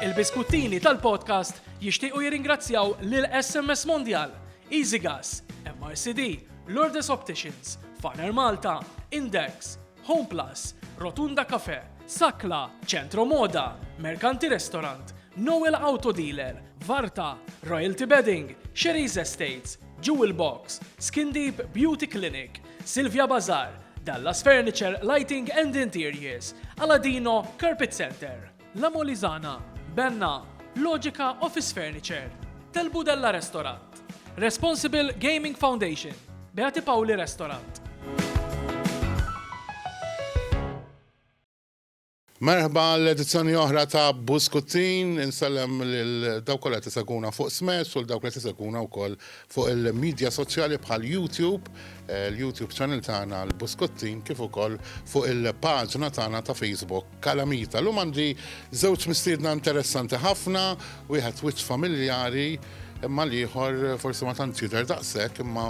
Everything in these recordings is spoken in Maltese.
Il-biskuttini tal-podcast jixtiequ jirringrazzjaw lil SMS Mondial, Easy Gas, MRCD, Lourdes Opticians, Farner Malta, Index, Home Plus, Rotunda Cafe, Sakla, Centro Moda, Mercanti Restaurant, Noel Auto Dealer, Varta, Royalty Bedding, Sherry's Estates, Jewel Box, Skin Deep Beauty Clinic, Silvia Bazar, Dallas Furniture, Lighting and Interiors, Aladino, Carpet Center, La Molizana, Benna, Logica Office Furniture, Tel Budella Restaurant, Responsible Gaming Foundation, Beati Pauli Restaurant. Merħba għal edizzjoni oħra ta' Buskuttin. Insellem lil dawk kollha qed isegwuna fuq Smash u l dawk li qed isegwuna wkoll fuq il-midja soċjali bħal YouTube, l-YouTube channel tagħna l-Buskuttin kif ukoll fuq il-paġna tagħna ta' Facebook Kalamita. Llum għandi żewġ mistiedna interessanti ħafna, wieħed wiċċ familjari imma l-ieħor forsi ma tantx jidher daqshekk imma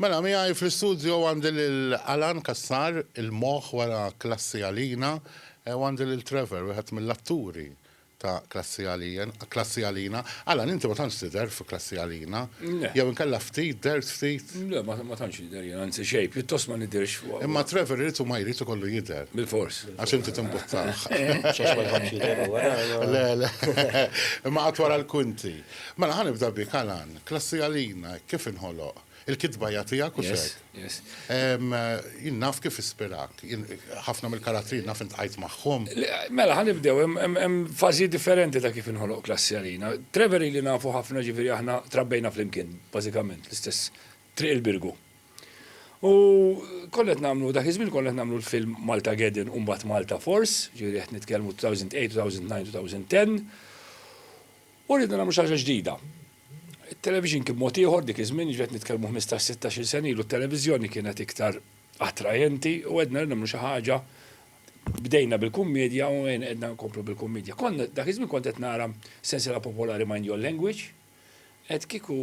Mela, miegħi fl-istudjo għandi lil Alan Cassar, il-moħħ wara Klassi Għalina, u għandi lil Trevor, wieħed mill-atturi ta' Klassi Għalien, Klassi Għalina. Alan, inti ma tantx tidher fi Klassi Għalina. Le. Jew inkella ftit, dhert ftit? Le, ma, ma tantx nidher jien, anzi xejn, pjuttost ma nidhirx f'. Imma Trevor irid u ma jrid ikollu jidher. Bilfors. Għax inti timbuttah. X'għax ma jħobbx jidher huwa, le, le. Le, le. Imma qatt wara l-kwinti. Mela, ħa nibda bik, Alan. Klassi għalina, hekk kif inħoloq. Il-kitba hija tiegħek u Yes, sek. yes. Em, Jien naf kif ispirak. Jien ħafna mill-karattri naf intqajt magħhom. Le, Mela, ħa nibdew, hemm- hemm hemm fażijiet differenti ta' kif inħoloq klassi għalina. Trevor ili nafu ħafna ġifieri aħna trabbejna flimkien, bażikament, l-istess triq il-Birgu. U konna qed nagħmlu, dak iż-żmien konna qed nagħmlu l-film Malta Gedin u mbagħad Malta Force, ġifieri qed nitkellmu 2008, 2009, 2010. U rridu nagħmlu xi ħaġa ġdida. It-television kien mod ieħor dik iż-żmien, jiġifieri qed nitkellmu ħmistax, sittax-il sena ilu t-televiżjoni kienet iktar attrajenti u għedna rridu nagħmlu xi ħaġa, bdejna bil-kummedja u għedna nkomplu bil-kummedja. Konna, dak iż-żmien kont qed nara sensiela popolari Mind Your Language, qed kieku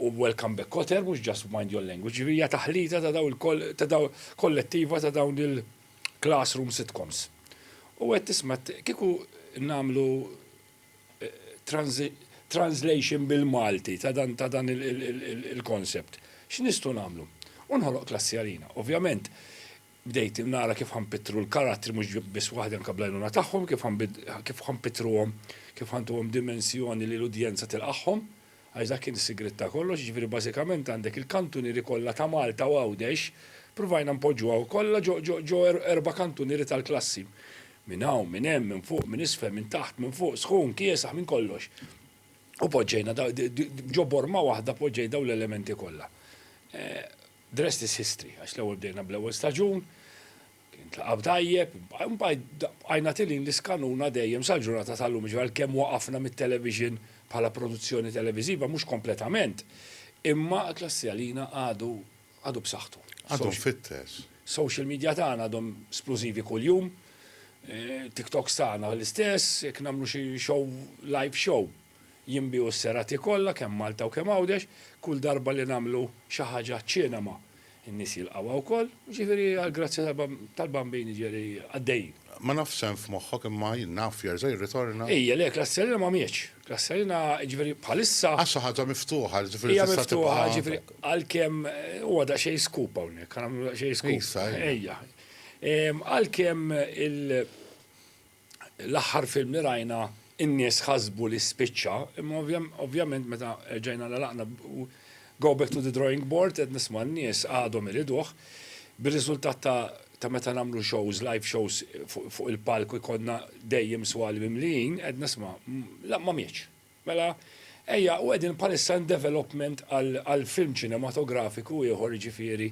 u Welcome Back Kotter mhux just Mind Your Language, jiġifieri hija taħlita ta' dawn il-, kollettiva ta' dawn il-classroom sitcoms. U qed tisma' kieku nagħmlu translation bil-Malti ta' dan ta' dan il-concept. X'nistgħu nagħmlu? U nħoloq klassi għalina. Ovvjament, bdejt nara kif ħanpittru l-karattri mhux biss waħdi anke bl-għajnuna tagħhom, kif kif ħanpittruhom, kif ħantuhom dimensjoni li l-udjenza tilqagħhom, għax dak kien is-sigriet ta' kollox, jiġifieri bażikament għandek il-kantunieri kollha ta' Malta u Għawdex, ppruvajna npoġġuha kollha ġo erba' kantunieri tal-klassi. Minn hawn, minn hemm, minn fuq, minn isfel, minn taħt, minn fuq, sħun, kiesaħ, minn kollox. U poġġejna ġo borma waħda poġġej dawn l-elementi kollha. Eh, the rest is history, għax l-ewwel bdejna bl-ewwel staġun, kien tlaqab tajjeb, għajna tilin l-iskanuna dejjem sal-ġurnata tal-lum, ġivgħal kemm waqafna mit-television bħala produzzjoni televiziva, mhux kompletament, imma klassi għalina għadu għadu b'saħħtu. Għadu mfittex. Social media tagħna għadhom splużivi kuljum. TikToks tagħna l-istess, jekk nagħmlu xi show, live show, jinbiegħu s-serati kollha kemm Malta u kemm Għawdex, kull darba li nagħmlu xi ħaġa ċ-ċinema, in-nies jilqgħuha wkoll, jiġifieri għall-grazzja tal-Bambini ġieli għaddejjin. Ma nafx x'hemm f'moħħok imma jien naf jerġa' jirritorna. Ejja, le, Klass Serena ma mjietx. Klass Serena, jiġifieri bħalissa. Għax xi ħaġa miftuħa, jiġifieri tista' tibqa'. Hija miftuħa, jiġifieri għalkemm huwa daqsxejn scoop hawnhekk, ħa nagħmlu daqsxejn scoop. Issa, ejja. Għalkemm l-aħħar film li rajna In-nies ħasbu li spiċċa, imma ovvjament meta erġajna għalaqna u go back to the drawing board qed nisma' n-nies għadhom iriduh. Bir-riżultat ta' meta nagħmlu shows, live shows fuq il-palk ikollna dejjem swali mimlijin, qed nisma' la ma mietx. Mela ejja, u qegħdin bħalissa in development għal film ċinematografiku ieħor jiġifieri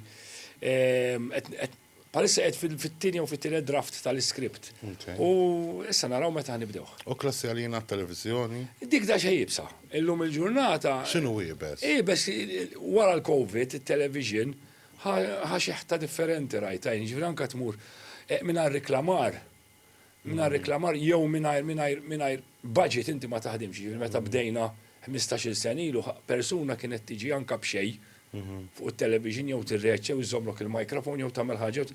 qed Bħalissa qed fit-tieni jew fit-tielet draft tal-iskript. U issa naraw meta ħnibdewh. U klassi għalina t-televiżjoni? Dik da xejn ibsa. Illum il-ġurnata. X'inhu iebes? Iebes wara l-COVID, it-television ħa xeħta differenti rajta jien, ġifieri anke tmur mingħajr riklamar. Mingħajr reklamar jew mingħajr mingħajr mingħajr budget inti ma taħdimx, jiġifieri meta bdejna ħmistax-il sena ilu persuna kienet tiġi anke b'xejn mhm. fuq it-television jew tirreċċa jew iżżommlok il-microphone jew tagħmel ħaġa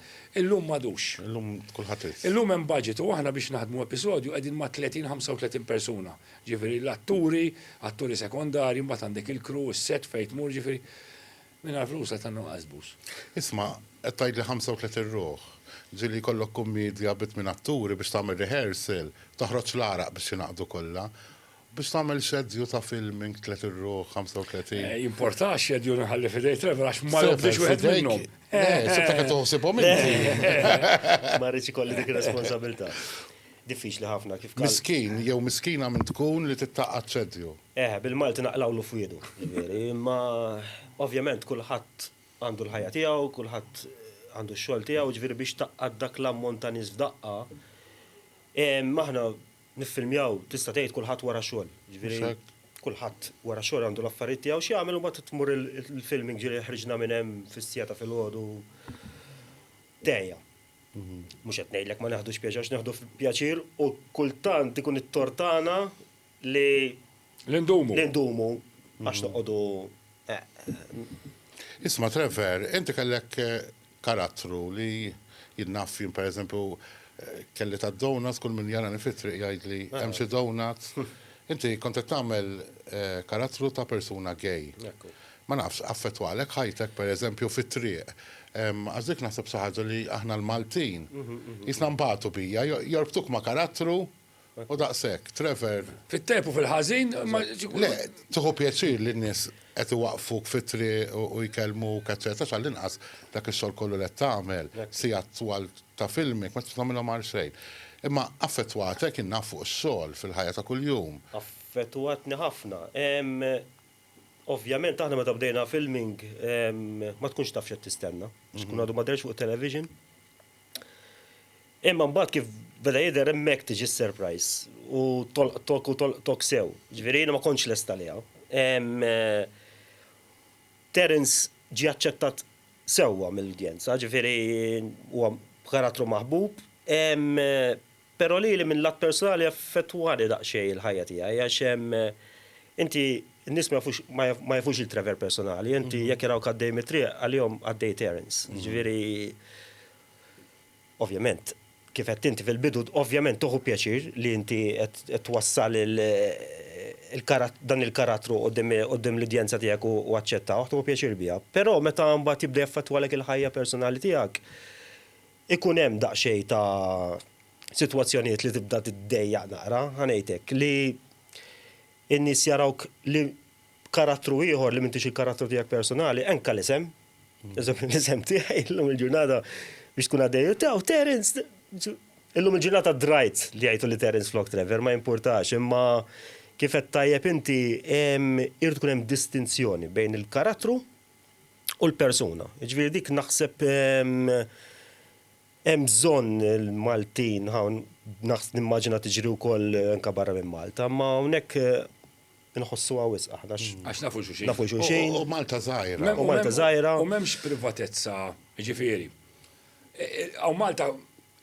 illum m'għadux. Illum kulħadd Illum hemm budget u aħna biex naħdmu episodju qegħdin ma' 30-35 persuna. Ġifieri l-atturi, atturi sekondarji, mbagħad għandek il-crew, is-set fejn tmur ġifieri. Mingħajr flus qed nagħmlu qasbus. Isma', qed tgħidli ħamsa u tletin ruħ. Ġieli jkollok kummiedja bi tmien atturi biex tagħmel rehearsal, toħroġ l-għaraq biex jingħaqdu kollha. Biex tagħmel xedju ta' filming tliet irruħ, ħamsa u tletin. Jimporta x-xedju nħalli f'idej Trevor għax ma jobdix wieħed minnhom. Sibtek qed toħsibhom inti. Ma rridx ikolli dik ir-responsabilità. Diffiċli ħafna kif kal. Miskin jew miskina minn tkun li tittaqgħad xeddju. Eħe, bil-Malti naqlgħulu f'wiedu. Ġifieri, imma ovvjament kulħadd għandu l-ħajja tiegħu, kulħadd għandu x-xogħol tiegħu, ġifieri biex taqgħad dak l-ammont ta' nies f'daqqa, aħna niffilmjaw, tista' tgħid kulħadd wara xogħol. Ġifieri, kulħadd wara xogħol għandu l-affarijiet tiegħu x'jagħmel u mbagħad tmur il-filming ġieli ħriġna minn hemm fis-siegħa ta' filgħodu. Dehja. Mhux qed ngħidlek ma neħdux pjaċir għax neħdu pjaċir u kultant ikun it-tort tagħna li li ndumu. Li ndumu għax noqogħdu Isma' Trevor, inti kellek karattru li jinnaf jien pereżempju kelli ta' donuts kull min jarani fit-triq jgħidli hemm xi donuts. Inti kont qed tagħmel karattru ta' persuna gay. Ma nafx, affettwalek ħajtek, per eżempju, fit-triq? Għax dik naħseb xi ħaġa li aħna l-Maltin, qisna nbatu biha, jorbtuk ma' karattru u daqshekk. Trevor. Fit-tajjeb u fil-ħażin, imma xi kultant. Le, tieħu pjaċir li n-nies qed iwaqqfuk fit-triq u jkellmuk, eċċetera, x'għall-inqas dak ix-xogħol kollu li qed tagħmel, sigħat twal ta' filmik, ma tridx tagħmilhom għal xejn. Imma affettwatek, jien naf, fuq ix-xogħol, fil-ħajja ta' kuljum. Affettwatni ħafna. Ovvjament aħna meta bdejna filming ma tkunx taf x'qed tistenna, għax tkun għadu ma dehrx fuq television. Imma mbagħad kif beda jidher hemmhekk tiġi s-surprise u tolqtok u tolqtok sew. Ġifieri jiena ma kontx lest għaliha. Terence ġie aċċettat sewwa mill-udjenza, ġifieri huwa karattru maħbub. Però lili minn lat personali affettwani daqsxejn il-ħajja tiegħi għax inti n-nies ma jafux ma jafux il-Trevor personali, inti jekk jarawk għaddej mit-triq għalihom għaddejt errands. Jiġifieri ovvjament kif għedt inti fil-bidu ovvjament tieħu pjaċir li inti qed twassal dan il-karattru quddiem l-udjenza tiegħek u aċċettawh, tieħu pjaċir biha. Però meta mbagħad jibda jaffettwalek il-ħajja personali tiegħek, Ikun hemm daqsxejn ta' sitwazzjonijiet li tibda tiddejjaq naqra, ħa ngħid hekk, li n-nies jarawk li b'karattru ieħor li m'intix il-karattru tiegħek personali, anke l-isem, eżempju l-isem tiegħi llum il-ġurnata biex tkun għaddej, taw Terence, illum il-ġurnata drajt li jgħidu li Terence flok Trevor, ma jimpurtax, imma kif għedt tajjeb inti, irid ikun hemm distinzjoni bejn il-karattru, u l-persuna. Ġifieri dik naħseb hemm bżonn il-Maltin hawn naħs nimmaġina tiġri wkoll anke barra minn Malta, imma hawnhekk inħossuha wisq aħna. Għax nafu xulxin. Nafu xulxin. U Malta żgħira. U Malta żgħira. U m'hemmx privatezza, ġifieri. Hawn Malta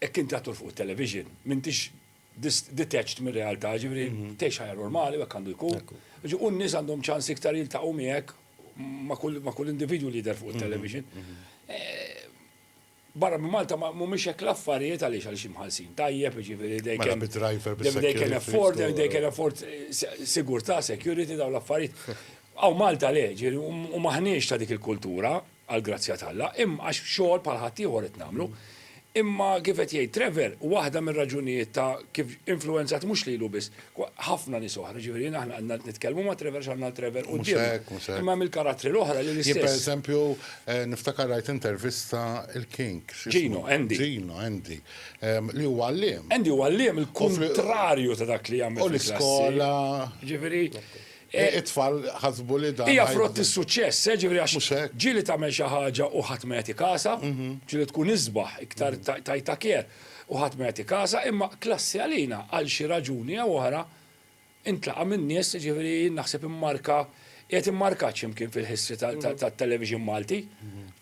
hekk inti għad tmur fuq it-television, m'intix detached mir-realtà, ġifieri tgħix ħajja normali u hekk għandu jkun. U n-nies għandhom ċans iktar jiltaqgħu miegħek ma' kull individwu li jidher fuq it-television. Barra minn Malta mhumiex hekk l-affarijiet għaliex għaliex imħallsin tajjeb, jiġifieri they can afford, they can afford sigurtà, security dawn l-affarijiet. Hawn Malta le, ġifieri u m'aħniex ta' dik il-kultura, għall-grazzja t'Alla, imma għax xogħol bħal ħaddieħor qed nagħmlu. Imma kif qed jgħid Trevor, waħda mir-raġunijiet ta' kif influwenzat mhux lilu biss, ħafna nies oħra, jiġifieri aħna għandna nitkellmu ma' Trevor għax għandna l-Trevor quddiemna. Imma hemm il-karattri l-oħra li l-istess. Jien pereżempju niftakar rajt intervista il-King, x'ismu? Gino, Andy. Gino, Andy, li huwa għalliem. Andy huwa għalliem, il-kuntrarju ta' dak li jagħmel fil-klassi. U l-iskola. Jiġifieri. It-tfal ħasbu li dan. Hija frott is-suċċess, eh, ġifieri għax. Mhux hekk. Ġieli tagħmel xi ħaġa u ħadd ma jagħti kasha, ġieli tkun isbaħ, iktar tajtha care u ħadd ma jagħti kasha, imma klassi għalina għal xi raġuni jew oħra intlaqa' min-nies, ġifieri jien naħseb immarka, qiegħed immarkat xi mkien fil-history tat-television Malti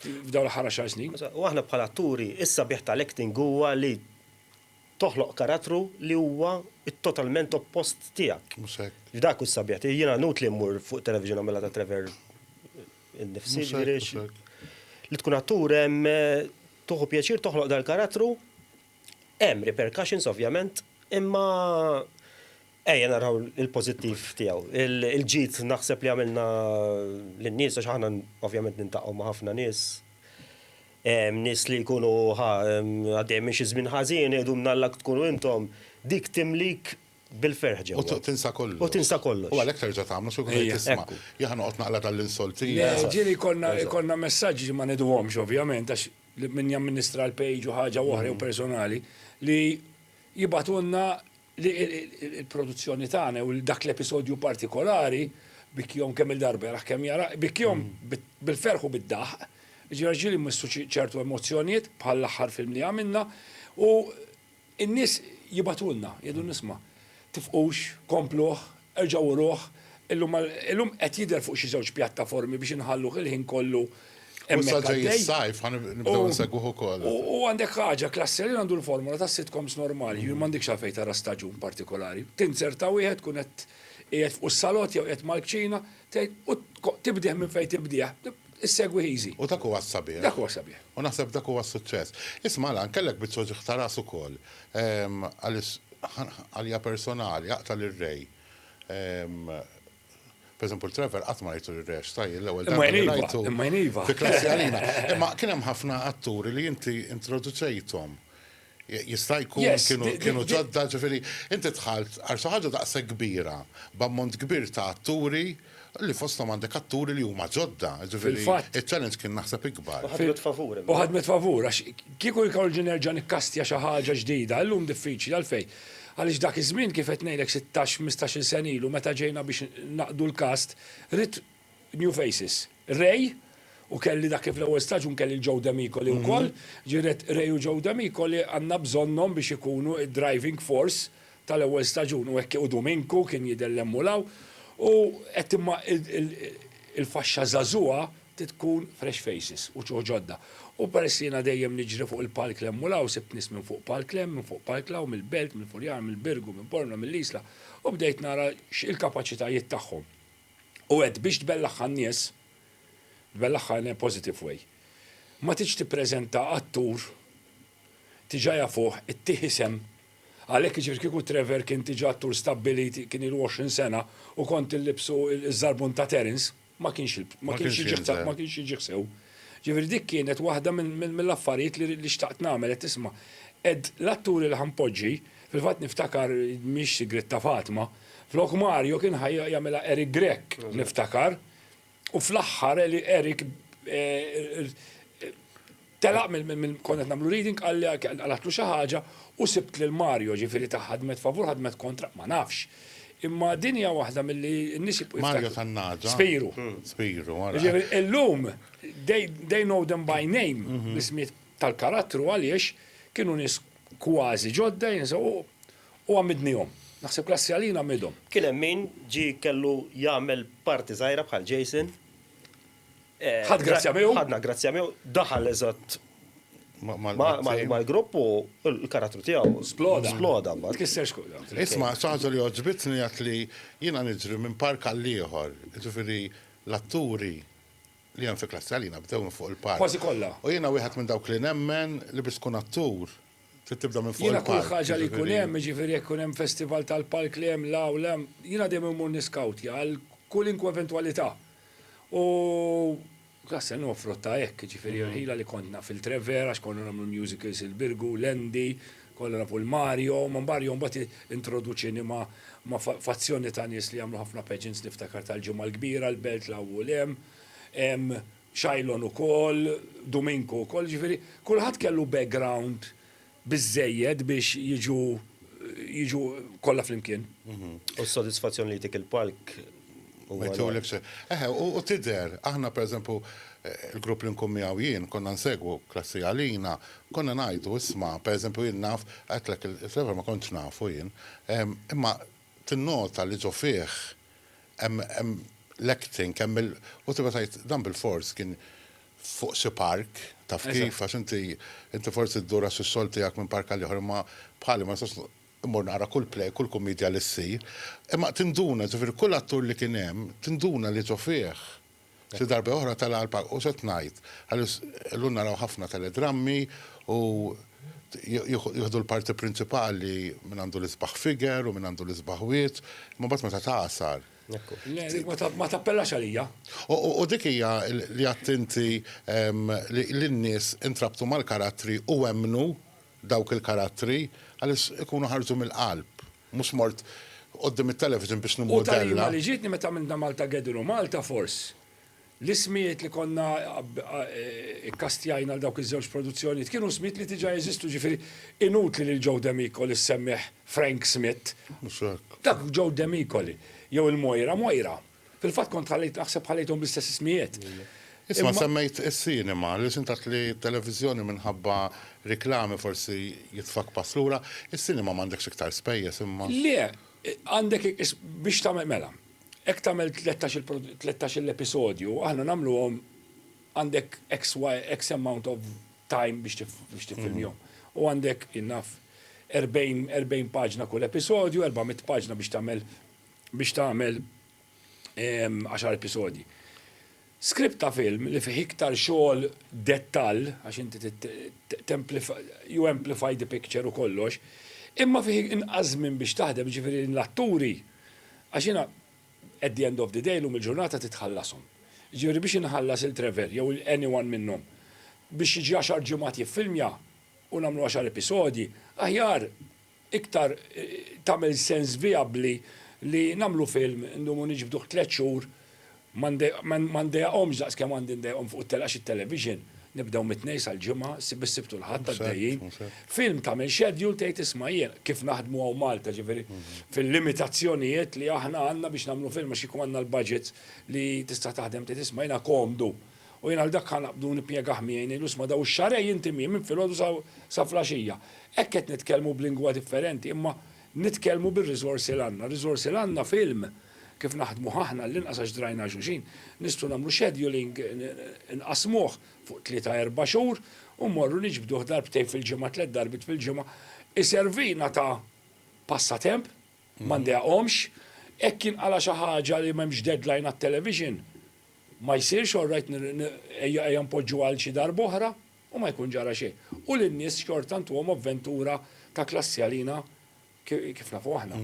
f'dawn l-aħħar għaxar snin. U aħna bħala atturi, is-sabiħ tal-acting huwa li Toħloq karattru li huwa t-totalment oppost tiegħek. Mhux hekk. F'dak hu s-sabiħa tiegħi. Jiena nutli mmur fuq it-television nagħmilha ta' Trevor innifsi, jiġifieri x'. Mhux hekk, mhux hekk. Li tkun attur hemm tieħu pjaċir toħloq dal-karattru, hemm repercussions ovvjament, imma Ejja naraw il-pożittiv tiegħu. Il-ġid naħseb li għamilna lin-nies għax aħna ovvjament niltaqgħu ma' ħafna nies. Nies li jkunu ħa għaddejjin minn xi żmien ħażin jgħidu minn Alla tkunu intom, dik timlik bil-ferħ ġewwa. U tinsa kollox. U tinsa kollox. U għalhekk terġa' tagħmlu xi wħud jgħid isma', jien ħa noqgħod naqla' dan l-insultin. Le, ġieli jkollna messaġġi li ma ngħiduhomx ovvjament għax min jamministra l-page u ħaġa u oħra jew personali li jibgħatulna, li l-produzzjoni tagħna u dak l-episodju partikolari bikjom kemm il-darba jaraħ kemm jara, bikjom bil-ferħ u bid-daħq, ġifieri ġieli mmissu ċertu emozzjonijiet bħal l-aħħar film li għamilna u n-nies jibatulna, jgħidu nisma' tifqux, kompluh, Erġgħu uruh, illum qed jidher fuq xi żewġ pjattaformi biex inħalluh il-ħin kollu hemmhekk għaddej. U issa ġej is-sajf, ħa nibdew insegwuh ukoll. U għandek ħaġa, Klassjanin għandu l-formola tas-sitcoms normali, jiġifieri m'għandekx għalfejn tara staġun partikolari. Tinzerta wieħed, tkun qed qiegħed fuq is-salott jew qiegħed mal-kċina, tgħid u tibdieh minn fejn tibdieh. Issegwi Hiżi. U dak huwa s-sabiħ. Dak huwa s-sabiħ. U naħseb dak huwa s-suċċess. Isma' Alan, kellek biċċa uġigħ ta' ras ukoll. Għaliex għalija personali, aqta' lir-Re. Pereżempju l-Trevor qatt ma rajtu lir-Re għax sahi l-ewwel darba li rajtu. Imma jien iva. Fi klassi għalina. Imma kien hemm ħafna atturi li inti introduċejthom Jista' jkun kienu ġodda, ġifieri inti dħalt għal xi ħaġa daqshekk kbira, b'ammont kbir ta' atturi, li fosthom għandek atturi li huma ġodda, ġifieri ċ-challenge kien naħseb ikbar. U ħadmet favur imma. U ħadmet favur, għax kieku jkolli nerġa' nikkastja xi ħaġa ġdida, illum diffiċli, għalfejn? Għaliex dak iż-żmien kif qed ngħidlek sittax, ħmistax-il sena ilu meta ġejna biex naqdu l-cast, ridt, New Faces. Ray, u kelli dak li fl-ewwel staġun kelli l-Joe D'Amico li wkoll, ġifieri Ray u Joe D'Amico li għandna bżonnhom biex ikunu d-driving force tal-ewwel staġun u hekk u Duminku kien jidher li hemm u 'l hawn u qed imma il-faxxa żagħżugħa trid tkun fresh faces u ġuħ ġodda. U peress li jiena dejjem niġri fuq il-palk 'l hemm u 'l hawn sibt nies minn fuq palk 'l hemm, minn fuq palk 'l hawn, mill-Belt, mill-Furjana, mill-Birgu, minn Bormla, mill-Isla u bdejt nara x' il-kapaċitajiet tagħhom. U għedt, biex tbellaħħa n-nies, tbellaħħa in a positive way, ma tridx tippreżenta attur diġà jafuh, ittih isem, għalhekk jiġifieri kieku Trevor kien diġà attur stabbilit, kien ilu 20 sena u kont illibsu ż-żarbun ta' Terence, ma kienx ma kienx jiġi ma kienx jiġi ħsew. Ġifieri dik kienet waħda mill-affarijiet li xtaqt nagħmel, qed isma', qed l-atturi li ħa npoġġi Fil-fatt niftakar, mhix sigriet ta' Fatma, flok Mario kien ħa jagħmilha Eric Grech, niftakar, u fl-aħħar Eric telaq mill konna qed nagħmlu reading qalli qaltlu xi ħaġa u sibt lil Mario, ġifieri ta' ħadmet favur ħadmet kontra, ma nafx. Imma din hija waħda milli n-nies jibqgħu jiftakru. Mario tan-nagħġa. Spiru. Spiru, ara. Jiġifieri illum they know them by name, l-ismijiet tal-karattru għaliex kienu nies kważi ġodda, jinsa, u u għammidnihom. Naħseb klassi għalina għammidhom. Kien hemm min ġie kellu jagħmel party żgħira bħal Jason. Ħadd grazzja miegħu. Ħadna grazzja miegħu, daħal eżatt mal-grupp u l-karattru tiegħu. Sploda. Sploda mbagħad. Tkisser xkuda. Isma' xaħġa li għoġbitni għat li jiena niġri minn park għall-ieħor, jiġifieri l-atturi li hemm fi klassi għalina bdew minn fuq il-palk. Kważi kollha. U jiena wieħed minn dawk li nemmen li biex tkun attur trid tibda minn fuq il-palk. Jiena kull ħaġa li jkun hemm, jiġifieri jekk ikun hemm festival tal-palk li hemm la u la, jiena dejjem immur niskawtja għal kulinkwe eventwalità. U Klass L huwa frott ta' hekk, jiġifieri irħila li kont naf il-Trevere għax konna nagħmlu l-musicals il-Birgu, Landy, Kollha nafu lil Mario, ma Mario mbagħad introduċini ma' ma' fazzjoni ta' nies li jagħmlu ħafna pageants niftakar tal-Ġimgħa l-Kbira, l-Belt, l-hawn u l-hemm. Hemm Shailon ukoll, Duminku wkoll, jiġifieri kulħadd kellu background biżżejjed biex jiġu jiġu kollha flimkien. U s-sodisfazzjon li jtik il-palk. Ma jtulek xejn. Eħe, u tidher, aħna pereżempju l-grupp li nkun miegħu jien, konna nsegwu klassi għalina, konna ngħidu isma' pereżempju jien naf, għedtlek il-Flavor ma kontx nafu jien, imma tinnota li ġo fih hemm l-acting, hemm il-, u tibda tgħid dan bilfors kien fuq xi park, taf kif, għax inti forsi ddur għax ix-xogħol tiegħek minn park għal ieħor imma bħali ma nistax Immur nara kull play, kull kummedja li ssir. Imma tinduna, ġifieri kull attur li kien hemm, tinduna li ġo fih xi darba oħra tala' għall-palk. U x'qed ngħid? Għaliex illum naraw ħafna teledrammi u jieħdu l-parti prinċipali min għandu l-isbaħ figure u min għandu l-isbaħ wiċċ, imma mbagħad meta tagħsar. Le, dik ma tappellax għalija. U dik hija li għedt inti li n-nies intrabtu mal-karattri u emmnu Dawk il-karattri, Alice, ikunu ħarġu mill-qalb. Mhux mort quddiem it-television biex nimmodella. U talima li ġietni meta għamilna Maltagedon u Malta Force. L-ismijiet li konna kkastjajna għal dawk iż-żewġ produzzjonijiet kienu smijiet li diġà jeżistu, jiġifieri inutli lil Joe Demicoli ssemmih Frank Smith. Mhux hekk. Dak Joe Demicoli. Jew il-Mojra Mojra. Fil-fatt kont ħallejt naħseb ħallejthom bl-istess ismijiet. Isma' semmejt is-sinema, li x'intat li t-televiżjoni minħabba riklami forsi jitfgħak pass lura, is-sinema m'għandekx iktar spejjeż imma. Le, għandek biex tagħmel mela, hekk tagħmel tlettax-il episodju, aħna nagħmluhom għandek X amount of time biex tiffilmjhom. U għandek, naf, 40 paġna kull episodju, 400 paġna biex tagħmel biex tagħmel għaxar episodji. Skript ta' film li fih iktar xogħol dettall, għax inti you amplify the picture u kollox, imma fih inqas żmien biex taħdem, jiġifieri l-atturi, għax jiena at the end of the day, llum il-ġurnata trid tħallashom. Jiġifieri biex inħallas lil Trevor jew lil anyone minnhom biex jiġi għaxar ġimgħat jiffilmja u nagħmlu għaxar episodji, aħjar iktar tagħmel sens vijabbli li nagħmlu film, ndumu niġbduh tliet xhur, ma ndejjaqhomx daqs kemm għandi ndejjaqhom fuq it-telgħa għax it-television, nibdew mit-Tnejn sal-Ġimgħa, ssib is-Sibt u l-Ħadd għaddejjin. Film tagħmel schedule tgħid isma' jien kif naħdmu hawn Malta, ġifieri fil-limitazzjonijiet li aħna għandna biex nagħmlu film għax kieku għandna l-budgets li tista' taħdem tgħid isma' jiena komdu U jien għal dak ħa naqbdu u nippjegah miegħi ngħidlu sma' daw ix-xahrejn jinti miegħi minn filgħodu sa sa flaxija. Hekk qed nitkellmu b'lingwa differenti imma nitkellmu bir-riżorsi l-għandna. Ir-riżorsi l-għandna f'ilm kif naħdmuh aħna għall-inqas għax drajna għal xulxin. Nistgħu nagħmlu scheduling inqassmuh fuq tlieta erba' xhur u mmorru niġbduh darbtejn fil-ġimgħa tliet darbit fil-ġimgħa. Iservina ta' passatemp. ma ndeqhomx, hekk jinqala' xi ħaġa li m'hemmx deadline għat-television, ma jsirx, all right ejja npoġġuha għal xi darb'oħra, u ma jkun ġara xejn. U lin-nies xorta ntuhom avventura ta' klassi għalina kif nafu aħna.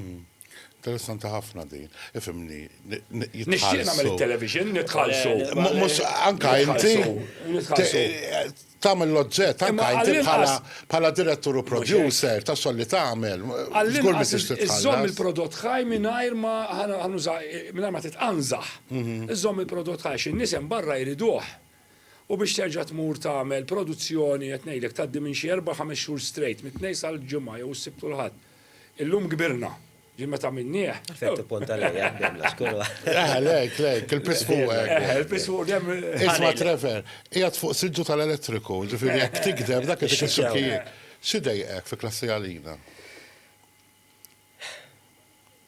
Interessanti ħafna din. Ifhimni, jitħallsu. Nixtieq nagħmel it-television, nitħallsu. Mhux anke inti. Nitħallsu. Tagħmel l-oġġett anke inti bħala bħala direttur u producer ta' xogħol li tagħmel. Żgur li tixtieq tħallas. Iżżomm il-prodott ħaj mingħajr ma ħa nuża mingħajr ma titqanżaħ. Iżżomm il-prodott ħaj għax in-nies hemm barra jriduh. U biex terġa' tmur tagħmel produzzjoni qed ngħidlek tgħaddi minn xi erba' ħames xhur straight, mit-Tnejn sal-Ġimgħa jew is-Sibt u l-Ħadd. Illum kbirna. Li meta minnieh. Fejn tippunta lejja għandhom l-xkuru. Eh, lejk, lejk, il-pis fuq. Eh, il-pis fuq dem. Isma' Trevor, qiegħed fuq siġġu tal-elettriku, ġifieri jekk tikdeb dak itik ix-xokkijiet. Xi dejqek fi klassi għalina?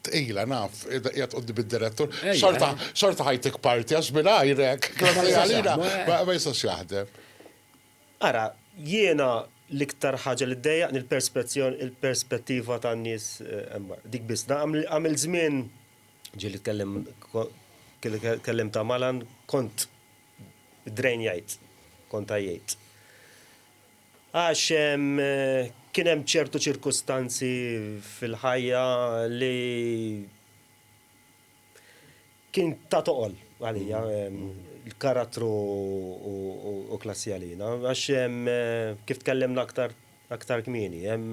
Tqila naf, qiegħed quddi bid-direttur. Xorta, xorta ħajtik parti għax mingħajrek. Klassi għalina ma jistax jaħdem. Ara, jiena l-iktar ħaġa li ddejjaqni l-perspettiva tan-nies hemm barra. Dik biss. Għamilt żmien, ġieli tkellem, kellimt ta' Malan, kont drainjajt, kont għajjejt. Għax kien hemm ċertu ċirkustanzi fil-ħajja li. Kien ta' toqol għalija l-karattru u klassi għalina, għax kif tkellimna aktar aktar kmieni, hemm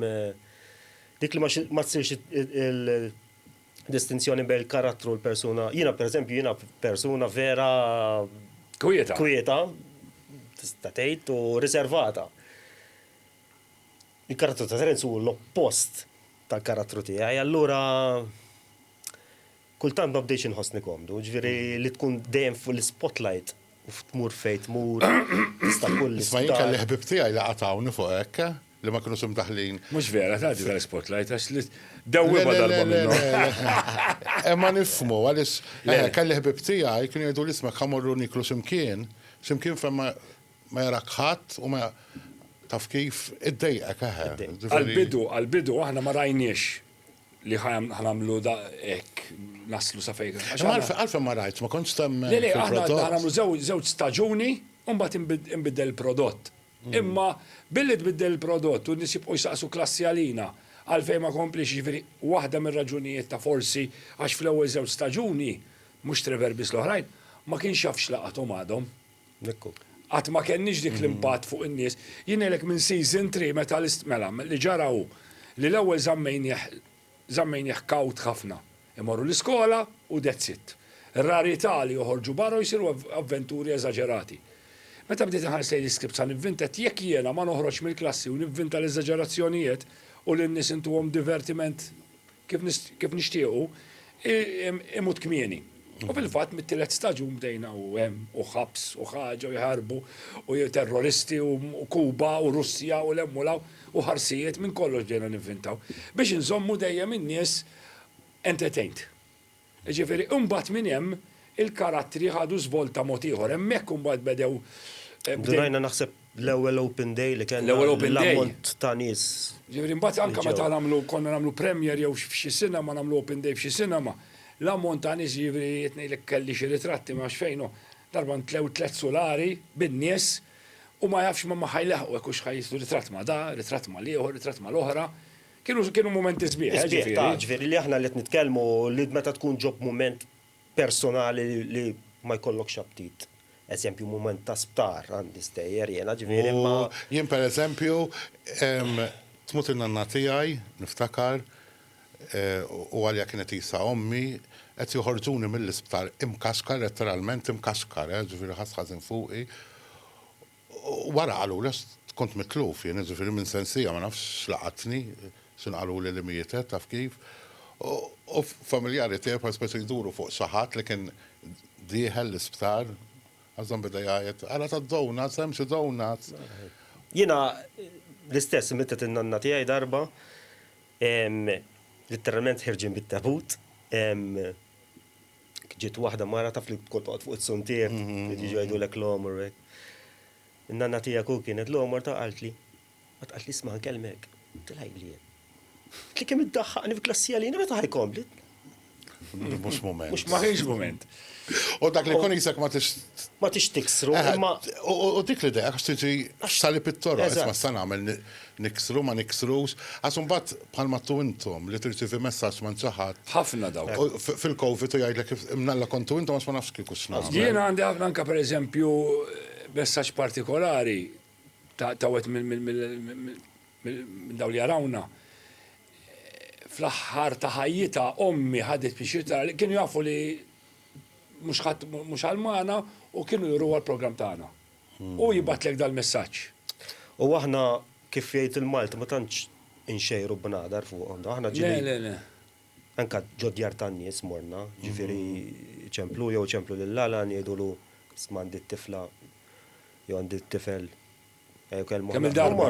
dik li ma tsirx il-distinzjoni bejn il-karattru u l-persuna. Jiena pereżempju jiena persuna vera Kwieta. kwieta, tista' tgħid, u riservata. Il-karattru ta' Terenz hu l-oppost tal-karattru tiegħi, allura Kultant ma bdejtx inħossni komdu, ġifieri li tkun dejjem fuq l-ispotlight u tmur fejn tmur, tista' kull. Isma' jien kelli ħbieb tiegħi li qatgħuni fuq hekk, li ma kinux imdaħħlin. Mhux vera, tgħaddi tal-ispotlight għax li dewwiema darba minnhom. Imma nifhmu għaliex kelli ħbieb tiegħi kienu jgħiduli isma' ħa mmorru nieklu xi mkien, xi mkien fejn ma jarak ħadd u ma taf kif, iddejqek eħe. Għall-bidu, għall-bidu aħna ma rajniex li ħanamlu da ek, naslu sa fejn. Għalfem ma rajt, ma kontx tem. Le, le, ħanamlu zewġ staġuni, un bat imbidel il-prodott. Mm. Imma billi tbiddel il-prodott u nisib u jisaqsu klassi għalina, għalfej ma komplix ġifiri, wahda mir raġunijiet ta' forsi, għax fl-ewel zewġ staġuni, mux Trevor bis l-oħrajn, ma kienx jafx laqatom għadhom. Qatt ma kellniex dik l-impatt fuq in-nies. Jien ngħidlek minn season three meta mela li ġara hu li l-ewwel żammejnieh żammejnieh kawt ħafna. Imorru l-iskola u that's it. Rarità li joħorġu barra u jsiru avventuri eżaġerati. Meta bdejt inħares lejn l-iskript sa nivvinta għedt jekk jiena ma noħroġx mill-klassi u nivvinta l-eżaġerazzjonijiet u lin-nies intuhom divertiment kif nixtiequ, imut kmieni. U fil-fatt mit-tielet staġun bdejna u hemm u ħabs u ħaġa u jħarbu u terroristi u Kuba u Russja u 'l hemm u 'l hawn u ħarsijiet minn kollox bdejna nivvintaw biex inżommu dejjem in-nies entertained. Jiġifieri imbagħad minn hemm il-karattri ħadu żvolta mod ieħor. Hemmhekk imbagħad bedew, eh, bdew. Bdejna naħseb l-ewwel open day li kellna. L-ewwel open day. L-ammont ta' nies. Jiġifieri imbagħad anke meta nagħmlu konna nagħmlu premiere jew f'xi sinema nagħmlu open day f'xi sinema, l-ammont ta' nies jiġifieri qed ngħidlek kelli xi ritratti ma nafx fejn hu, darba ntlew tliet sulari bin-nies u ma jafx ma ma ħa jlaħqu hekk u x'ħa jiżdu ritratt ma' da, ritratt mal-ieħor, ritratt mal-oħra. Kienu kienu mumenti sbieħ, eh, ġifieri. Sbieħ, ta', ġifieri li aħna li qed nitkellmu li meta tkun ġo b'mument personali li ma jkollokx aptit. Eżempju, mument ta' sptar għandi stejjer jiena, ġifieri imma. U jien pereżempju, tmut in-nanna tiegħi, niftakar, u għaliha kienet qisha ommi, qed joħorġuni mill-isptar imkaxkar, letteralment imkaxkar, eh, ġifieri ħass ħażin fuqi. Wara qaluli kont mitluf jien, jiġifieri minn sensija ma nafx x'laqatni, x'inhu qaluli li mietet, taf kif, u familjari tiegħi bħal speċi jduru fuq xi ħadd li kien dieħel l-isptar, Ghassem beda jgħajjat, ara tad-donuts, hemm xi donuts. Jiena l-istess mietet in-nanna tiegħi darba, litteralment ħirġin bit-tabut, Ġiet waħda mara taf li tkun toqgħod fuq is-suntier, li tiġi jgħidulek l-għomor u hekk. In-nanna tiegħek u kienet l-għomor ta' qaltli. Qatt qaltli isma' nkellmek. Tilha ili jien. Li kemm iddaħħaqni f'klassi għalina meta ħaj kompli? Mhux mument. Mhux ma kienx mument. U dak li kun isek ma tix. Ma tix tiksru. U dik l-idea għax tiġi x'salib it-toroq, isma' sa nagħmel Niksru, ma niksrux, għax imbagħad bħal ma għadtu intom li tirċievi messaġġ m'għand xi ħadd. Ħafna dawk. Fil-Covid u jgħidlek imnalla kontu intom għax ma nafx kieku x'nagħmel. Jiena għandi ħafna anke pereżempju messaġġ partikolari ta' wieħed minn dawk li jarawna. Fl-aħħar ta' ħajjitha ommi ħadet pixir tara li kienu jafu li mhux ħadd mhux Almana u kienu juru l-programm tagħna. Hu jibgħatlek dal-messaġġ. U aħna kif jgħid il-Malti ma tantx inxejru bnadar fuqhom. Aħna ġieli. Le, le, le. Anke ġod-djar tan-nies morna, ġifieri ċemplu jew iċemplu lil Alan jgħidulu isma' għandi t-tifla jew għandi t-tifel. Kemm il-darba.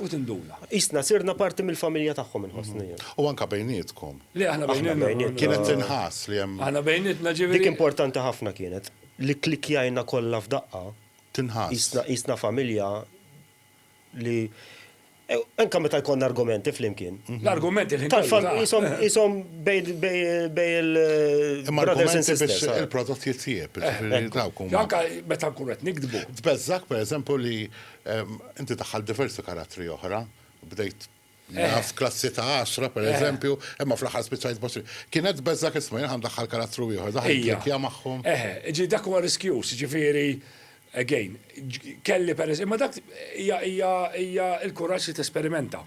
U tinduna. Qisna sirna parti mill-familja tagħhom inħossni jien. U anke bejnietkom. Le aħna bejnietna. Kienet tinħass li hemm. Aħna bejnietna ġifieri. Dik importanti ħafna kienet li kklikkjajna kollha f'daqqa. Tinħass. Qisna familja li anke meta jkollna argumenti flimkien. L-argument il-ħin kollu. Qishom bejn il-brothers and sisters. Imma il-prodott jitjieb. Anke meta nkunu qed nikdbu. Tbeżżgħek pereżempju li Inti daħħalt diversi karattri oħra, bdejt naf klassi ta' għaxra pereżempju, imma fl-aħħar spiċċajt b'għoxrin. Kienet biss dak iż-żmien jien ħa ndaħħal karattru ieħor, daħħalt tlikkja magħhom. Eħe, jiġifieri dak huwa riskjuż, jiġifieri, again, kelli per, imma dak hija hija hija l-kuraġġ li tesperimenta.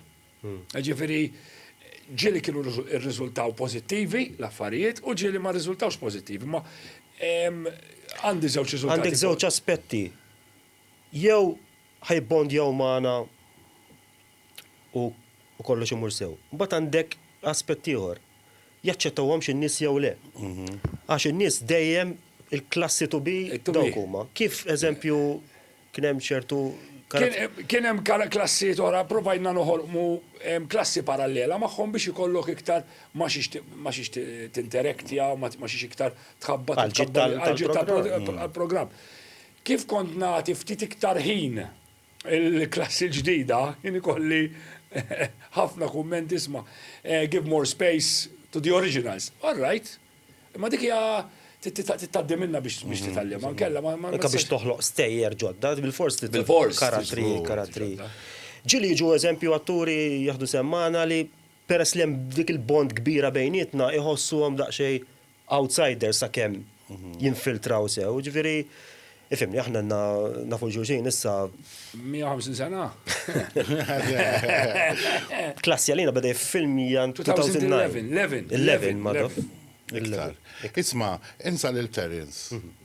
Jiġifieri ġieli kienu rriżultaw pożittivi l-affarijiet u ġieli ma rriżultawx pożittivi, imma għandi żewġ riżultati. Għandek żewġ aspetti. Jew ħa jibbondjaw magħna u kollox imur sew. Imbagħad għandek aspett ieħor, jaċċettawhomx in-nies jew le. Għax in-nies dejjem il-klassi to be dawk huma. Kif eżempju kien hemm ċertu Kien hemm klassijiet oħra, provajna noħolqu klassi parallela magħhom biex ikollok iktar ma' xiex tinterektja, ma' xiex iktar tħabbat għall-ġid tal-programm. Kif kont nagħti ftit iktar ħin il-klassi l-ġdida, kien ikolli ħafna kummenti, isma', give more space to the originals. All right. Imma dik hija trid tgħaddi minnha biex titgħallimha, inkella ma. Anke biex toħloq stejjer ġodda, bilfors trid karattri, karattri. Ġieli jiġu eżempju atturi jaħdu sehem magħna li peress li hemm dik il-bond kbira bejnietna iħossuhom daqsxejn outsider sakemm jinfiltraw sew, jiġifieri ifhimni aħna għandna nafu xulxin issa. 150 sena? Klassi għalina beda jiffilmija 2011. 11. 11 madaf. Iktar. Isma', insa lil Terence. Mhm.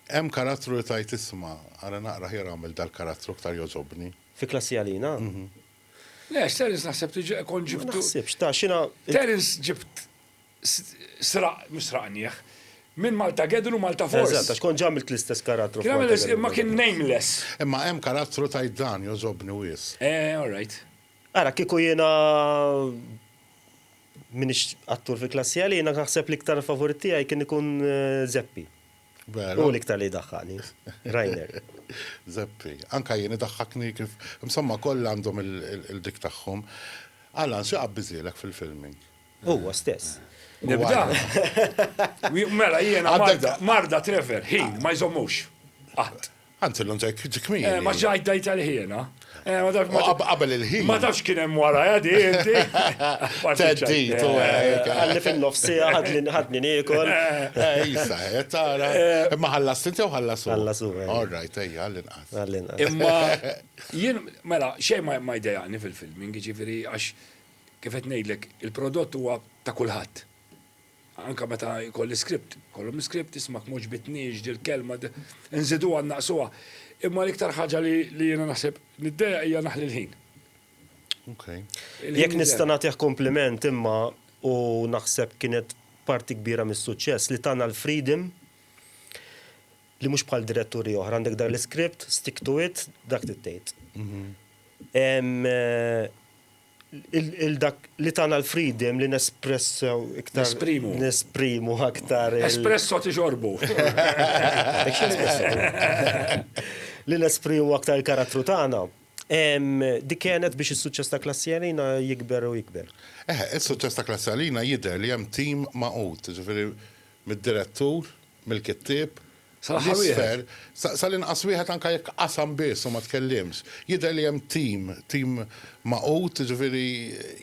Hemm karattru li tajt isma' ara naqra ħjar għamel dal-karattru iktar jogħġobni. Fi klassi għalina? Mhm. Le, Terence naħseb tiġi kon ġibtu. Ma naħsibx, ta' xina. Terence ġibt sraq, mhux sraqnieh, minn Maltagedon u Maltaforce. Eżatt, għax kont ġa għamilt l-istess karattru f'Maltagedon. Imma kien nameless. Imma hemm karattru tgħid dan, jogħġobni wisq. Eh, all right. Ara, kieku jiena m'iniex attur fi klassi għalija, jiena naħseb l-iktar favorit tiegħi kien ikun Zeppi. Veru. Hu l-iktar li jdaħħaqni. Rainer. Zeppi. Anke jien idaħħakni kif, insomma, kollha għandhom il-dik tagħhom. Allan, xi qabbiżielek fil-filming? Huwa stess. Nibda? Mela jiena marda, marda Trevor, ħin, ma jżommux. Qatt. Anzi l-lum tajk ġikmin. Eh, ma ġajt dajt għal-ħiena. Eh, ma tafx ma qabel il-ħin. Ma tafx kien hemm wara jadi eh, inti. Teddi, tu għalli fin-nofsi ħadni ħadni niekol. Jisa, tara. Imma ħallas inti u ħallas u. Ħallas u. All right, ejja, għall-inqas. Imma jien mela xejn ma jdejaqni fil-filming, ġifieri għax Kif qed ngħidlek, il-prodott huwa ta' kulħadd. Anke meta jkolli script, kollhom l-iskript, ismak m'għoġbitniex dil-kelma, inżiduha nnaqsuha. Imma l-iktar ħaġa li jiena naħseb niddejjaq hija naħli l-ħin. Jekk nista' nagħtih kumpliment imma u naħseb kienet parti kbira mis-suċċess li tana l-freedom li mhux bħal diretturi oħra għandek dan l-iskript, stick to it, dak trid tgħid. il-dak li tana l-freedom li nespressew iktar. Nesprimu. Nesprimu aktar. Espresso ti xorbu. Li nesprimu aktar il-karattru tana. Dik kienet biex il-suċċess ta' klassi għalina jikber u jikber. Eh, il-suċċess ta' klassi għalina jider li jem tim maqut, ġifiri mid-direttur, mill-kittib, Sal-aħħar wieħed. Sal-inqas wieħed anke jekk qasam biss u ma tkellimx. Jidher li hemm tim, tim magħqud, jiġifieri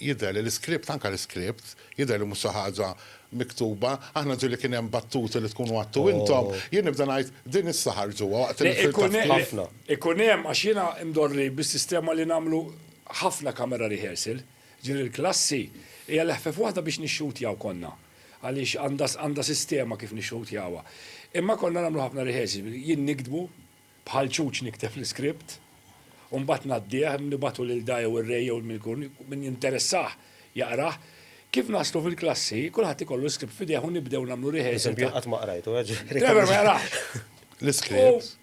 jidher li l-iskript, anke l-iskript, jidher li mhux xi ħaġa miktuba. Aħna ġieli kien hemm battuti li tkunu għadtu intom, jien nibda ngħid din issa ħarġuha waqt il-filta. Ikun hemm, għax jiena imdorri bis-sistema li nagħmlu ħafna camera rehearsal, ġieli l-klassi hija leħfef waħda biex nixxutjaw konna. għaliex għandha għandha sistema kif nixxutjawha. Imma konna nagħmlu ħafna rehearsal, jien niktbu, bħal ċuċ nikteb l-iskript, u mbagħad ngħaddih, nibagħtu lil Da jew ir-Re jew min ikun, min jinteressah jaqrah. Kif naslu fil-klassi, kulħadd ikollu l-iskript f'idejh u nibdew nagħmlu rehearsal. Pereżempju jien qatt ma qrajtu, ġifieri. Trevor ma jarax. L-iskript.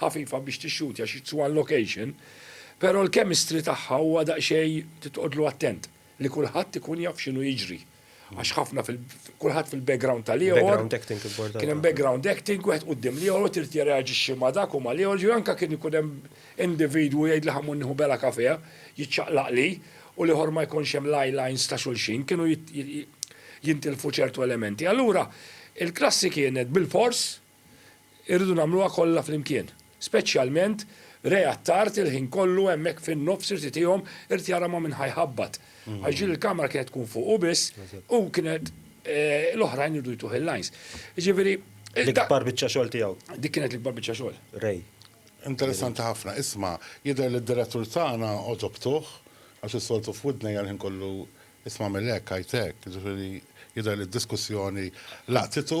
ħafifa biex tixxuti għax it's one location, pero l-chemistry tagħha huwa daqsxejn trid toqgħodlu attent li kulħadd ikun jaf x'inhu jiġri. Għax ħafna fil kulħadd fil-background tal-ieħor. Background acting importanti. Kien hemm background acting, wieħed quddiem l-ieħor u trid jirreaġixxi ma' dak u ma' l-ieħor, ġifieri anke kien ikun hemm individwu jgħidli ħammur nieħu bela kafè, jiċċaqlaqli u l-ieħor ma jkunx hemm l-eye lines ta' xulxin, kienu jintilfu ċertu elementi. Allura, il-klassi kienet bilfors Irridu nagħmluha kollha flimkien. Speċjalment Re għat-tard il-ħin kollu hemmhekk fin-nofs irid itihom, irid jara ma' min ħa jħabbat. Għax din il-kamera kienet tkun fuqu biss u kienet l-oħrajn iridu jtuh il-lines. Jiġifieri. L-ikbar biċċa xogħol tiegħu. Dik kienet l-ikbar biċċa xogħol. Ray. Interessanti ħafna. Isma', jidher li d-direttur tagħna għodobtuh għax is-soltu f'widnejja l-ħin kollu isma' għamel hekk, għidt hekk. Jiġifieri jidher li d-diskussjoni laqtitu.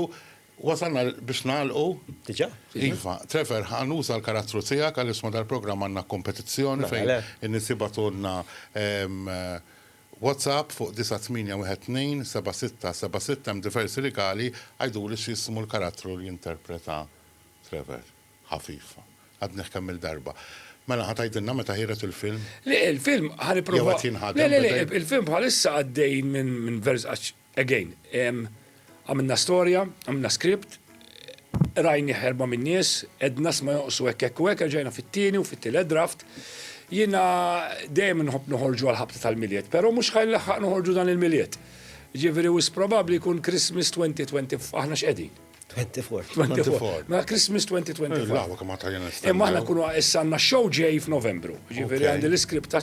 Wasalna biex nagħlqu. Diġà? Iva. Trevor, ħa nuża l-karattru tiegħek għaliex ma' dal-programm għandna kompetizzjoni fejn in-nies jibagħtulna WhatsApp fuq 98127676 hemm diversi rigali, għiduli x'jismu l-karattru li jinterpreta Trevor. Ħafif. Għadnih kemm-il darba. Mela ħa tgħidilna meta ħiereġ il-film? Le, il-film ħa nipprova. Jew qed jinħadem. Le, le, le, il-film bħalissa għaddej minn vers għax Again, għamilna storja, għamilna script, rajnih erba' minn nies, għedna sma jonqsu hekk hekk u hekk, reġajna fit-tieni u fit-tielet draft. Jiena dejjem nħobb noħorġu għall-ħabta tal-Milied, però mhux ħa nlaħħaq noħorġu dan il-Milied. Jiġifieri wisq probabbli jkun Christmas 2020 f'aħna x'qegħdin. 24. 24. Mela Christmas 2025. Lawa kemm għata jena stanna. Imma aħna kunu issanna show ġej f'Novembru. Ġifieri għandi l-iskript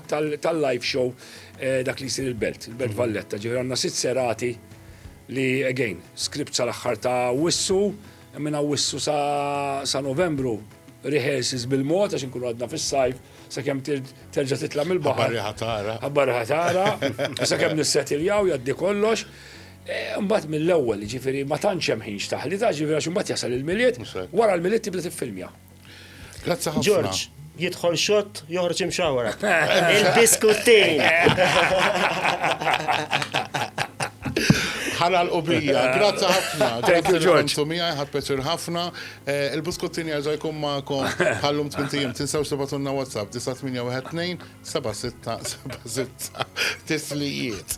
tal-live show eh, dak li jsir il-Belt, il-Belt mhm. Valletta. Ġifieri għandna sitt serati li again, skript sal-aħħar ta' wissu, minna wissu sa' Novembru rehearses bil-mod għax nkunu għadna fis-sajf sakemm terġa' titla' mill-baħar. Ħabbar ħatara. Ħabbar ħatara. Sakemm nissetiljaw jaddi kollox. Imbagħad mill-ewwel, jiġifieri ma tantx hemm ħin x'taħli, ta' jiġifieri għax imbagħad jasal il-Milied, wara l-Milied tibda tiffilmja. Grazzi ħafna. Ġorġ, jidħol xott, joħroġ imxawwra. Il-biskuttin! Ħana l-qubija. Grazzi ħafna. Thank you, Ġorġ. Tumija, ħad peċir ħafna. Eh, il-buskuttin jarġa jkun ma'kom ħallum tmintijem. Tinsaw xtibatunna WhatsApp 981 76 76 tislijiet.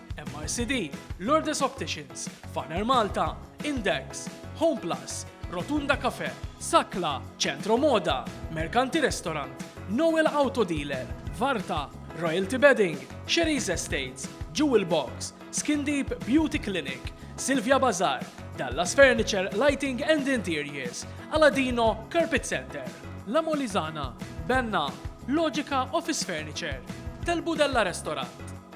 MRCD, Lourdes Opticians, Faner Malta, Index, Home Plus, Rotunda Cafe, Sakla, Centro Moda, Mercanti Restaurant, Noel Auto Dealer, Varta, Royalty Bedding, Sherry's Estates, Jewel Box, Skin Deep Beauty Clinic, Silvia Bazar, Dallas Furniture Lighting and Interiors, Aladino Carpet Center, La Molizana, Benna, Logica Office Furniture, Telbu Della Restaurant,